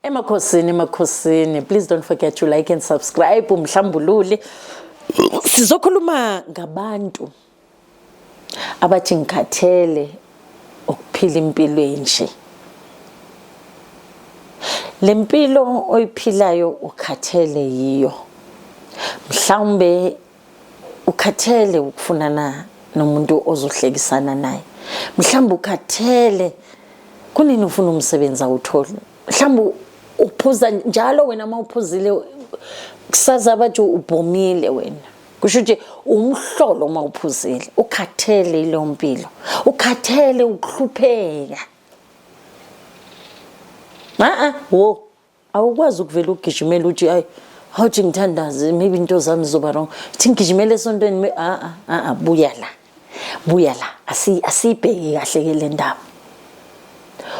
Emakhosini emakhosini please don't forget to like and subscribe umhlambululi sizokhuluma ngabantu abathi ngikhathele ukuphila impilo enje le mpilo oyiphilayo ukhathele yiyo mhlawumbe ukhathele ukufunana nomuntu ozohlekisana naye mhlawumbe ukhathele kunini ufuna umsebenzi awutholi mhlawumbe uphuza njalo wena uma uphuzile kusaza abathi ubhomile wena kusho ukuthi umhlolo uma uphuzile ukhathele ileyo mpilo ukhathele ukuhlupheka a-a wo awukwazi ukuvela ugijimele uthi ayi hawuthi ngithandaze maybe into zami zizoba wrong thi ngigijimele esontweni a a buya la buya la asiyibheki kahle ke le ndaba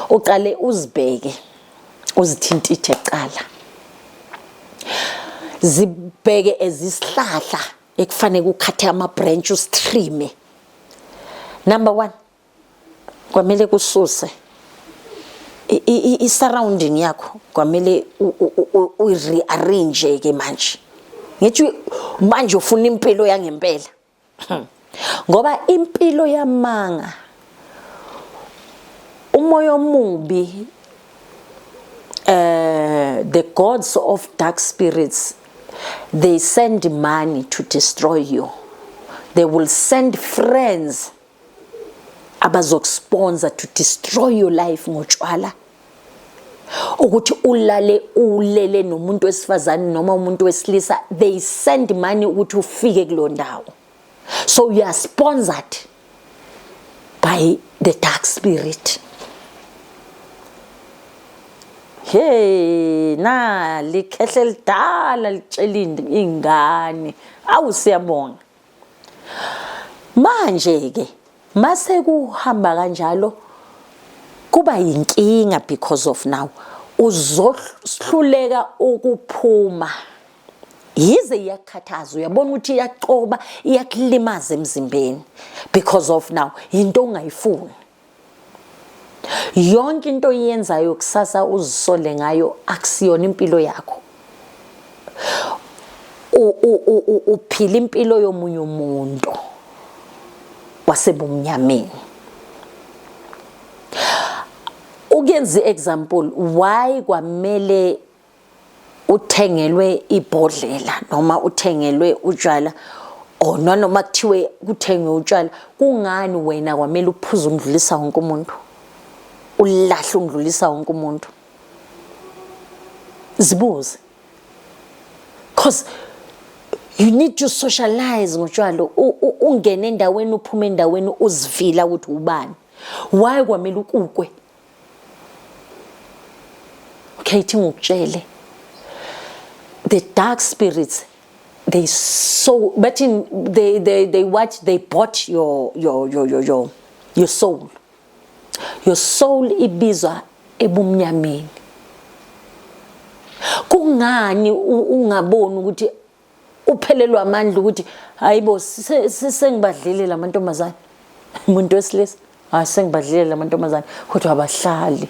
uqale uzibheke uzithintithe kuqala zibheke ezisihlahla ekufanele ukhathe ama branch ustrime number 1 kwamele kususe i-surrounding yakho kwamele uyi-rearrange ke manje ngithi manje ufuna impilo yangempela hmm. ngoba impilo yamanga umoya omubi uh, the gods of dark spirits they send money to destroy you they will send friends abazokusponsor to destroy your life ngotshwala ukuthi ulale ulele nomuntu wesifazane noma umuntu wesilisa they send money ukuthi ufike kulo ndawo so you are sponsored by the dark spirit hey na likhehle lidala litshelinde ingane awu siyabonga manje ke mase kuhamba kanjalo kuba yinkinga because of now uzohluleka ukuphuma yize iyakhathaza uyabona ukuthi iyacoba iyakulimaza emzimbeni because of now into ongayifuni yonke into oyenzayo kusasa uzisole ngayo akusiyona impilo yakho uphila impilo yomunye umuntu wasebumnyameni ukuyenza i-example why kwamele uthengelwe ibhodlela noma uthengelwe utshwala or oh, nanoma kuthiwe kuthengwe utshwala kungani wena kwamele uphuze umdlulisa wonke umuntu ulahle umdlulisa wonke umuntu zibuze cause you need to socialize ngotshwala ungene endaweni uphume endaweni uzivila ukuthi ubani why kwamele ukukwe Kate ngokutshele the dark spirits they so but in they they they what they bought your your your your your, your soul your soul ibizwa ebumnyameni kungani ungaboni ukuthi uphelelwa amandla ukuthi hayibo sengibadlile lamantombazane umuntu wesilisa hayi sengibadlile lamantombazane kodwa abahlali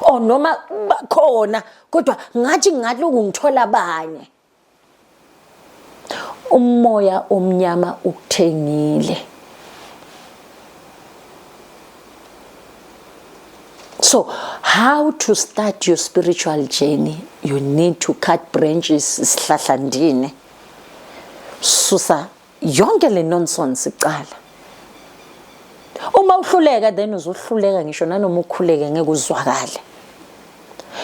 o oh, noma bakhona kodwa ngathi ngaloku ngithola abanye umoya omnyama ukuthengile So, how to start your spiritual journey? You need to cut branches, sihlahlandine. Susa yonke le nonsense iqala. Uma uhluleka then uzohluleka ngisho nanoma ukhuleke ngeke uzwakale.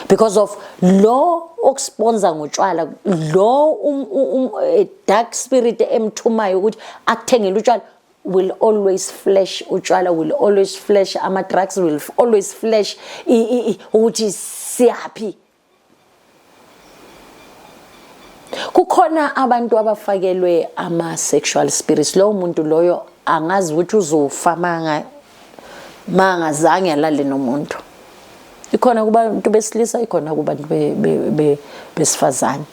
Because of lo okusponsor ngotshwala, lo um, um, um, eh, dark spirit emthumayo ukuthi akuthengele utshwala will always flash utshwala will always flash ama drugs will always flash ukuthi siyaphi kukhona abantu abafakelwe ama sexual spirits lowo muntu loyo angazi ukuthi uzofa manga mangazange alale nomuntu ikhona kubantu besilisa ikhona kubantu besifazane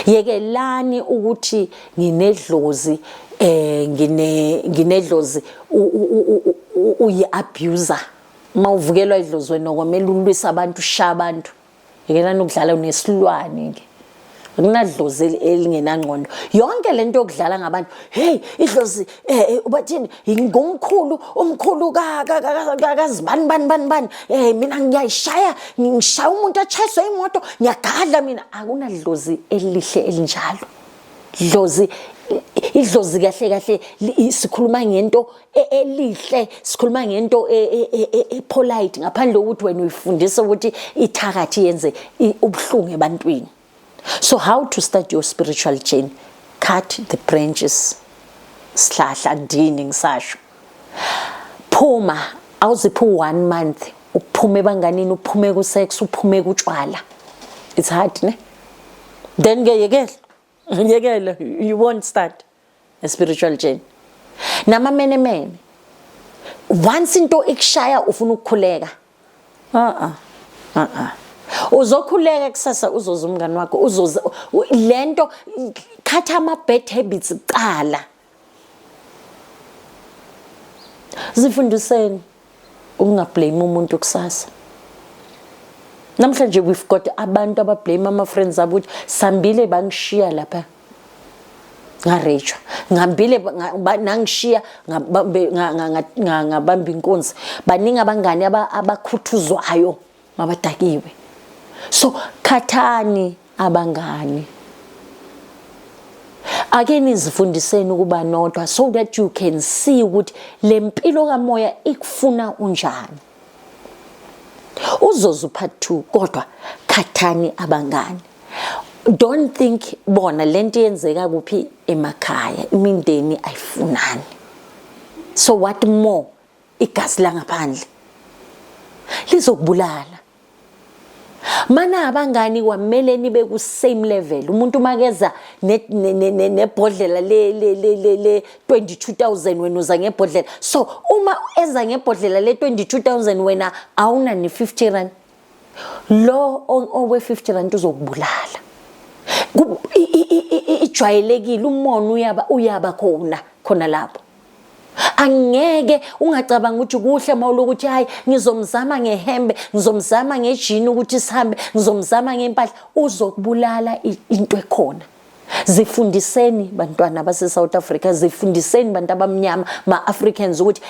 yekelani ukuthi nginedlozi eh ngine nginedlozi uyi abuser mawuvukelwa idlozi wena okwamele ulwisa abantu sha abantu yekelani ukudlala unesilwane ke kunadlozi elingenangqondo yonke lento yokudlala ngabantu hey idlozi eh, eh ubathini ngomkhulu umkhulu kazibani bani bani bani eh mina ngiyayishaya ngishaya umuntu achayiswe imoto ngiyagadla mina akunadlozi elihle elinjalo dlozi idlozi kahle kahle sikhuluma ngento e, elihle sikhuluma ngento e, e, epolite ngaphandle kokuthi wena uyifundisa ukuthi ithakathi yenze ubuhlungu ebantwini so how to start your spiritual journey cut the branches sihlahla ndini ngisasho phuma awuziphi one month uphume banganini uphume ku sex uphume kutshwala it's hard ne then ke yekela yekela you won't start spiritual journey nama mene mene once into ikushaya ufuna ukukhuleka a a a a uzokhuleka kusasa uzoza umngani wakho uzoza lento khatha ama bad habits kuqala zifundiseni ukungablame umuntu kusasa namhlanje we've got abantu abablame ama-friends abo ukuthi sambile bangishiya lapha ngarejwa ngihambile nangishiya ngabamba inkunzi baningi abangani abakhuthuzwayo mabadakiwe so khathani abangani ake nizifundiseni ukuba nodwa so that you can see ukuthi le mpilo kamoya ikufuna unjani uzozu part 2 kodwa khathani abangani don't think bona lento yenzeka kuphi emakhaya imindeni ayifunani so what more igazi langaphandle lizokubulala mana abangani kwamele nibe ku same level umuntu makeza nebhodlela le le le le le 22000 wena uza ngebhodlela so uma eza ngebhodlela le 22000 wena awuna ni 50 rand lo owe 50 rand uzokubulala ijwayelekile umona uyaba uyaba khona khona lapho angeke ungacabanga ukuthi kuhle uma ulokuthi hayi ngizomzama ngehembe ngizomzama ngejini ukuthi sihambe ngizomzama ngempahla uzokubulala into ekhona zifundiseni bantwana base-south africa zifundiseni bantu abamnyama ma-africans ukuthi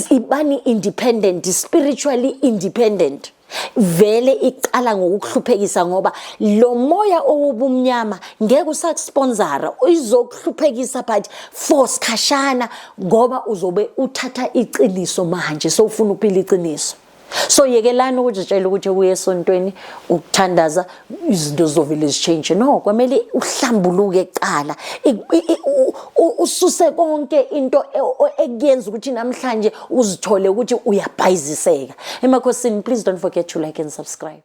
ibani independent spiritually independent vele iqala ngokuhluphekisa ngoba lo moya owubumnyama ngeke usakusponsora izokuhluphekisa but for sikhashana ngoba uzobe uthatha iqiniso manje so ufuna ukuphila iqiniso so yekelani ukuzitshela ukuthi uye esontweni ukuthandaza izinto zizovele zishintshe no kwamele uhlambuluke kuqala ususe konke into e, ekuyenza ukuthi namhlanje uzithole ukuthi uyabhayiziseka emakhosini please don't forget to like and subscribe